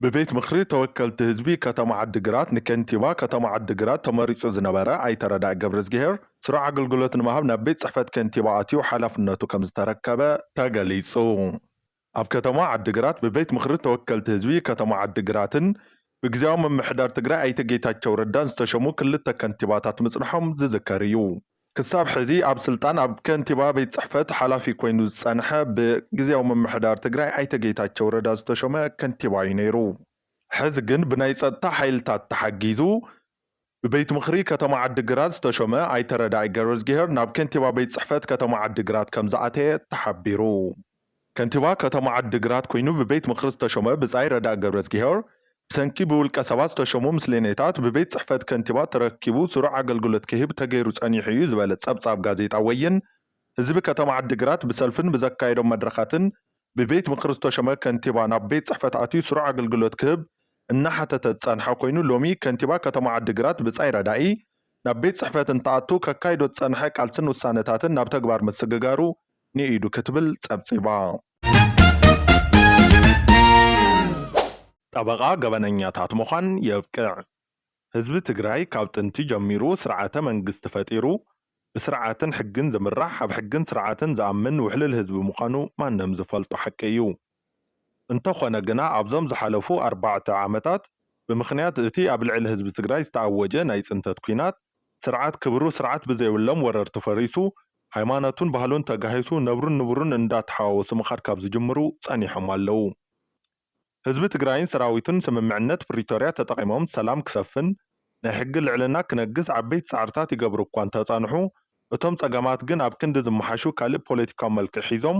ብቤት ምኽሪ ተወከልቲ ህዝቢ ከተማ ዓዲግራት ንከንቲባ ከተማ ዓዲግራት ተመሪፁ ዝነበረ ኣይተ ረዳኢ ገብረዝጊሄር ስሩዕ ኣገልግሎት ንምሃብ ናብ ቤት ፅሕፈት ከንቲባ ኣትዩ ሓላፍነቱ ከምዝተረከበ ተገሊፁ። ኣብ ከተማ ዓዲግራት ብቤት ምኽሪ ተወከልቲ ህዝቢ ከተማ ዓዲግራትን ብግዚያዊ ምምሕዳር ትግራይ ኣይተ ጌታቸው ረዳን ዝተሸሙ ክልተ ከንቲባታት ምፅንሖም ዝዝከር እዩ። ክሳብ ሕዚ ኣብ ስልጣን ኣብ ከንቲባ ቤት ፅሕፈት ሓላፊ ኮይኑ ዝፀንሐ ብግዝያዊ ምምሕዳር ትግራይ ኣይተ ጌታቸው ረዳ ዝተሾመ ከንቲባ እዩ ነይሩ። ሕዚ ግን ብናይ ፀጥታ ሓይልታት ተሓጊዙ ብቤት ምኽሪ ከተማ ዓዲ ግራት ዝተሾመ ኣይተ ረዳኢ ገብረዝጊሄር ናብ ከንቲባ ቤት ፅሕፈት ከተማ ዓዲ ግራት ከምዝኣተየ ተሓቢሩ። ከንቲባ ከተማ ዓዲግራት ኮይኑ ብቤት ምኽሪ ዝተሾመ ብጻይ ረዳኢ ገብረዝጊሄር፣ ብሰንኪ ብውልቀ ሰባት ዝተሾሙ ምስሌኔታት ብቤት ጽሕፈት ከንቲባ ተረኪቡ ስሩዕ ኣገልግሎት ክህብ ተገይሩ ጸኒሑ እዩ ዝበለ ጸብጻብ ጋዜጣ ወይን፣ ህዝቢ ከተማ ዓዲግራት ብሰልፍን ብዘካየዶም መድረኻትን ብቤት ምኽሪ ዝተሾመ ከንቲባ ናብ ቤት ጽሕፈት ኣትዩ ስሩዕ ኣገልግሎት ክህብ እናሓተተ ዝጸንሐ ኮይኑ ሎሚ ከንቲባ ከተማ ዓዲግራት ብጻይ ረዳኢ ናብ ቤት ጽሕፈት እንትኣቱ ከካይዶ ዝጸንሐ ቃልስን ውሳነታትን ናብ ተግባር ምስግጋሩ ንኢዱ ክትብል ጸብጺባ። ጠበቓ ገበነኛታት ምዃን የብቅዕ! ህዝቢ ትግራይ ካብ ጥንቲ ጀሚሩ ስርዓተ መንግስቲ ፈጢሩ ብስርዓትን ሕግን ዝምራሕ ኣብ ሕግን ስርዓትን ዝኣምን ውሕሉል ህዝቢ ምዃኑ ማንም ዝፈልጦ ሓቂ እዩ። እንተኾነ ግና ኣብዞም ዝሓለፉ ኣርባዕተ ዓመታት ብምኽንያት እቲ ኣብ ልዕሊ ህዝቢ ትግራይ ዝተኣወጀ ናይ ፅንተት ኲናት ስርዓት ክብሩ ስርዓት ብዘይብሎም ወረርቲ ፈሪሱ ሃይማኖቱን ባህሉን ተጋሂሱ ነብሩን ንቡሩን እንዳተሓዋወሱ ምኻድ ካብ ዝጅምሩ ፀኒሖም ኣለው። ህዝቢ ትግራይን ሰራዊቱን ስምምዕነት ፕሪቶርያ ተጠቒሞም ሰላም ክሰፍን ናይ ሕጊ ልዕልና ክነግስ ዓበይቲ ፃዕርታት ይገብሩ እኳ እንተፀንሑ እቶም ፀገማት ግን ኣብ ክንዲ ዝመሓሹ ካልእ ፖለቲካዊ መልክዕ ሒዞም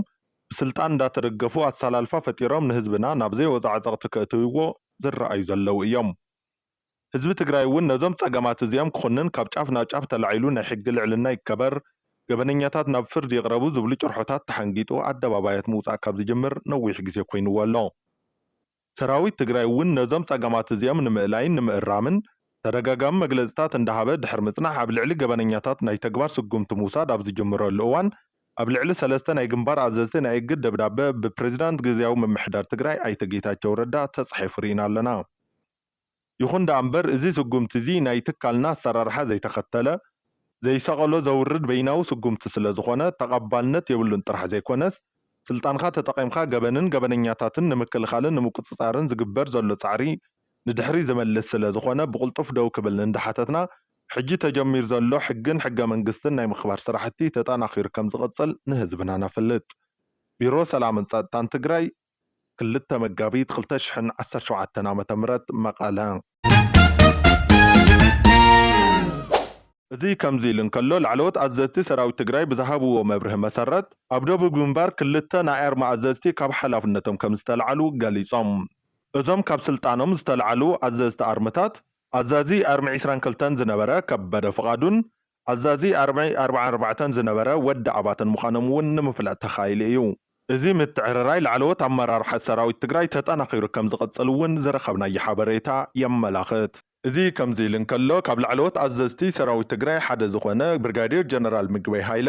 ብስልጣን እንዳተደገፉ ኣሳላልፋ ፈጢሮም ንህዝብና ናብ ዘይወፆ ዓፀቕቲ ከእትውዎ ዝረኣዩ ዘለው እዮም። ህዝቢ ትግራይ እውን ነዞም ፀገማት እዚኦም ክኹንን ካብ ጫፍ ናብ ጫፍ ተላዒሉ ናይ ሕጊ ልዕልና ይከበር፣ ገበነኛታት ናብ ፍርድ ይቕረቡ ዝብሉ ጭርሖታት ተሓንጊጡ ኣደባባያት ምውፃእ ካብ ዝጅምር ነዊሕ ግዜ ኮይንዎ ኣሎ። ሰራዊት ትግራይ እውን ነዞም ፀገማት እዚኦም ንምእላይን ንምእራምን ተደጋጋሚ መግለፅታት እንዳሃበ ድሕሪ ምፅናሕ ኣብ ልዕሊ ገበነኛታት ናይ ተግባር ስጉምቲ ምውሳድ ኣብ ዝጅምረሉ እዋን ኣብ ልዕሊ ሰለስተ ናይ ግንባር ኣዘዝቲ ናይ እግድ ደብዳበ ብፕሬዚዳንት ግዝያዊ ምምሕዳር ትግራይ ኣይተ ጌታቸው ረዳ ተፃሒፉ ሪኢና ኣለና። ይኹን ደኣ እምበር እዚ ስጉምቲ እዚ ናይ ትካልና ኣሰራርሓ ዘይተኸተለ፣ ዘይሰቐሎ ዘውርድ በይናዊ ስጉምቲ ስለ ዝኾነ ተቐባልነት የብሉን ጥራሕ ዘይኮነስ ስልጣንኻ ተጠቒምካ ገበንን ገበነኛታትን ንምክልኻልን ንምቁጽጻርን ዝግበር ዘሎ ጻዕሪ ንድሕሪት ዝመልስ ስለ ዝኾነ ብቕልጡፍ ደው ክብል እንዳሓተትና ሕጂ ተጀሚሩ ዘሎ ሕግን ሕገመንግስትን ናይ ምኽባር ስራሕቲ ተጠናኺሩ ከም ዝቕጽል ንህዝብና ነፍልጥ። ቢሮ ሰላምን ጸጥታን ትግራይ ክልተ መጋቢት ክልተ ሽሕን ዓሰርተ ሸውዓተን ዓመተ ምህረት መቐለ። እዚ ከምዚ ኢሉ እንከሎ፣ ላዕለዎት ኣዘዝቲ ሰራዊት ትግራይ ብዝሃብዎ መብርሂ መሰረት፣ ኣብ ደቡብ ግንባር ክልተ ናይ ኣርሚ ኣዘዝቲ ካብ ሓላፍነቶም ከምዝተልዓሉ ገሊጾም። እዞም ካብ ስልጣኖም ዝተልዓሉ ኣዘዝቲ ኣርምታት፣ ኣዛዚ ኣርሚ ዕስራን ክልተን ዝነበረ ከበደ ፍቓዱን ኣዛዚ ኣርሚ ኣርብዓን ኣርባዕተን ዝነበረ ወዲ ኣባተን ምዃኖም እውን ንምፍላጥ ተኻኢሉ እዩ። እዚ ምትዕርራይ ላዕለዎት ኣመራርሓ ሰራዊት ትግራይ ተጠናኺሩ ከምዝቕፅል እውን ዝረኸብናዮ ሓበሬታ የመላኽት። እዚ ከምዚ ኢሉ እንከሎ፣ ካብ ላዕለዎት ኣዘዝቲ ሰራዊት ትግራይ ሓደ ዝኾነ ብርጋዴር ጀነራል ምግበይ ሃይለ፣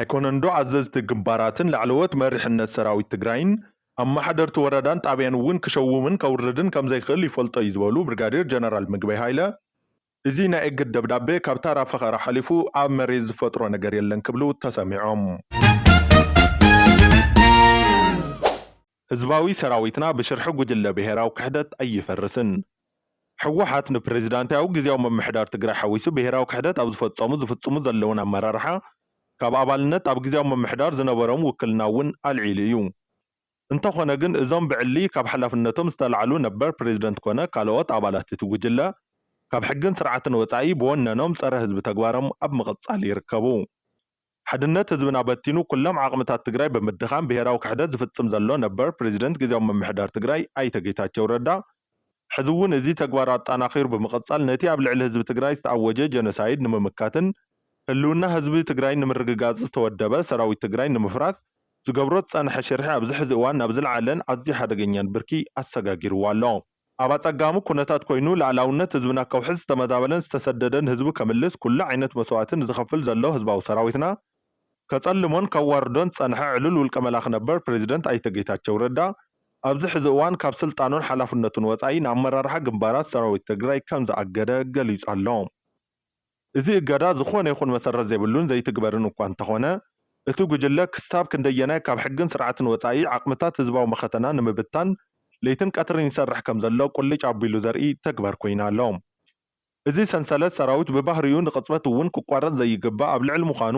ኣይኮነንዶ ኣዘዝቲ ግንባራትን ላዕለዎት መሪሕነት ሰራዊት ትግራይን ኣመሓደርቲ ወረዳን ጣብያን እውን ክሸውምን ከውርድን ከምዘይክእል ይፈልጦ'ዩ ዝበሉ ብርጋዴር ጀነራል ምግበይ ሃይለ እዚ ናይ እግድ ደብዳቤ ካብ ታራ ፈኸራ ሓሊፉ ኣብ መሬት ዝፈጥሮ ነገር የለን ክብሉ ተሰሚዖም። ህዝባዊ ሰራዊትና ብሽርሒ ጉጅለ ብሄራዊ ክሕደት ኣይፈርስን። ህወሓት ንፕረዚዳንቲያዊ ግዝያዊ ምምሕዳር ትግራይ ሓዊሱ ብሄራዊ ክሕደት ኣብ ዝፈፀሙ ዝፍፅሙ ዘለዉን ኣመራርሓ ካብ ኣባልነት ኣብ ግዝያዊ ምምሕዳር ዝነበሮም ውክልና እውን ኣልዒሉ እዩ። እንተኾነ ግን እዞም ብዕሊ ካብ ሓላፍነቶም ዝተላዕሉ ነበር ፕረዚደንት ኮነ ካልኦት ኣባላት እቲ ጉጅለ ካብ ሕግን ስርዓትን ወፃኢ ብወነኖም ፀረ ህዝቢ ተግባሮም ኣብ ምቕፃል ይርከቡ። ሓድነት ህዝብና በቲኑ ኩሎም ዓቕምታት ትግራይ ብምድኻም ብሄራዊ ክሕደት ዝፍፅም ዘሎ ነበር ፕሬዚደንት ግዝያዊ ምምሕዳር ትግራይ ኣይተ ጌታቸው ረዳ ሕዚ እውን እዚ ተግባር ኣጣናኺሩ ብምቕፃል ነቲ ኣብ ልዕሊ ህዝቢ ትግራይ ዝተኣወጀ ጀኖሳይድ ንምምካትን ህልውና ህዝቢ ትግራይ ንምርግጋፅ ዝተወደበ ሰራዊት ትግራይ ንምፍራስ ዝገብሮ ዝፀንሐ ሽርሒ ኣብዚ ሕዚ እዋን ናብ ዝለዓለን ኣዝዩ ሓደገኛን ብርኪ ኣሰጋጊርዎ ኣሎ። ኣብ ኣጸጋሚ ኩነታት ኮይኑ ልኣላውነት ህዝብና ከውሕስ ዝተመዛበለን ዝተሰደደን ህዝቡ ከምልስ ኩሉ ዓይነት መስዋእቲ ንዝኸፍል ዘሎ ህዝባዊ ሰራዊትና ከጸልሞን ከዋርዶን ዝጸንሐ ዕሉል ውልቀ መላኺ ነበር ፕረዚደንት ኣይተ ጌታቸው ረዳ ኣብዚ ሕዚ እዋን ካብ ስልጣኑን ሓላፍነቱን ወጻኢ ንኣመራርሓ ግንባራት ሰራዊት ትግራይ ከምዝኣገደ ገሊጹ ኣሎ። እዚ እገዳ ዝኾነ ይኹን መሰረት ዘይብሉን ዘይትግበርን እኳ እንተኾነ፣ እቲ ጉጅለ ክሳብ ክንደየናይ ካብ ሕግን ስርዓትን ወጻኢ ዓቕምታት ህዝባዊ መኸተና ንምብታን ለይትን ቀትርን ይሰርሕ ከምዘሎ ቁልጭ ኣቢሉ ዘርኢ ተግባር ኮይኑ ኣሎ። እዚ ሰንሰለት ሰራዊት ብባህሪኡ ንቕጽበት እውን ክቋረጽ ዘይግባእ ኣብ ልዕሊ ምዃኑ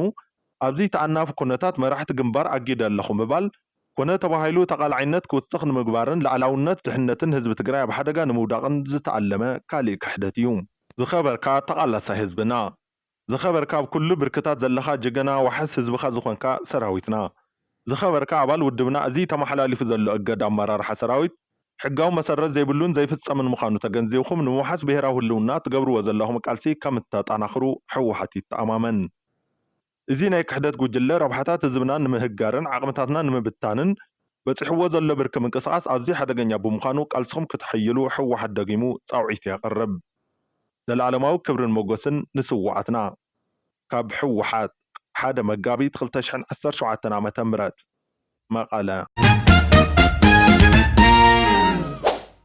ኣብዚ ተኣናፊ ኩነታት መራሕቲ ግንባር ኣጊደ ኣለኹ ምባል ኮነ ተባሂሉ ተቓላዓይነት ክውስኽ ንምግባርን ልኣላውነት ድሕነትን ህዝቢ ትግራይ ኣብ ሓደጋ ንምውዳቕን ዝተኣለመ ካሊእ ክሕደት እዩ። ዝኸበርካ ተቃላሳይ ህዝብና። ዝኸበርካ ኣብ ኩሉ ብርክታት ዘለኻ ጅገና ዋሕስ ህዝብኻ ዝኾንካ ሰራዊትና። ዝኸበርካ ኣባል ውድብና እዚ ተማሓላሊፉ ዘሎ እገዳ ኣማራርሓ ሰራዊት ሕጋዊ መሰረት ዘይብሉን ዘይፍጸምን ምኻኑ ተገንዚብኹም ንምውሓስ ብሄራዊ ህልውና ትገብርዎ ዘለኹም ቃልሲ ከምተጣናኽሩ ህወሓት ይተኣማመን። እዚ ናይ ክሕደት ጉጅለ ረብሓታት ህዝብና ንምህጋርን ዓቕምታትና ንምብታንን በጺሕዎ ዘሎ ብርኪ ምንቅስቓስ ኣዝዩ ሓደገኛ ብምዃኑ ቃልስኹም ክተሐይሉ ህወሓት ደጊሙ ጻውዒቱ የቕርብ። ዘልኣለማዊ ክብርን ሞጎስን ንስውኣትና! ካብ ህወሓት፣ ሓደ መጋቢት ክልተ ሽሕን ዓሰርተ ሸውዓተን ዓመተ ምህረት፣ መቐለ።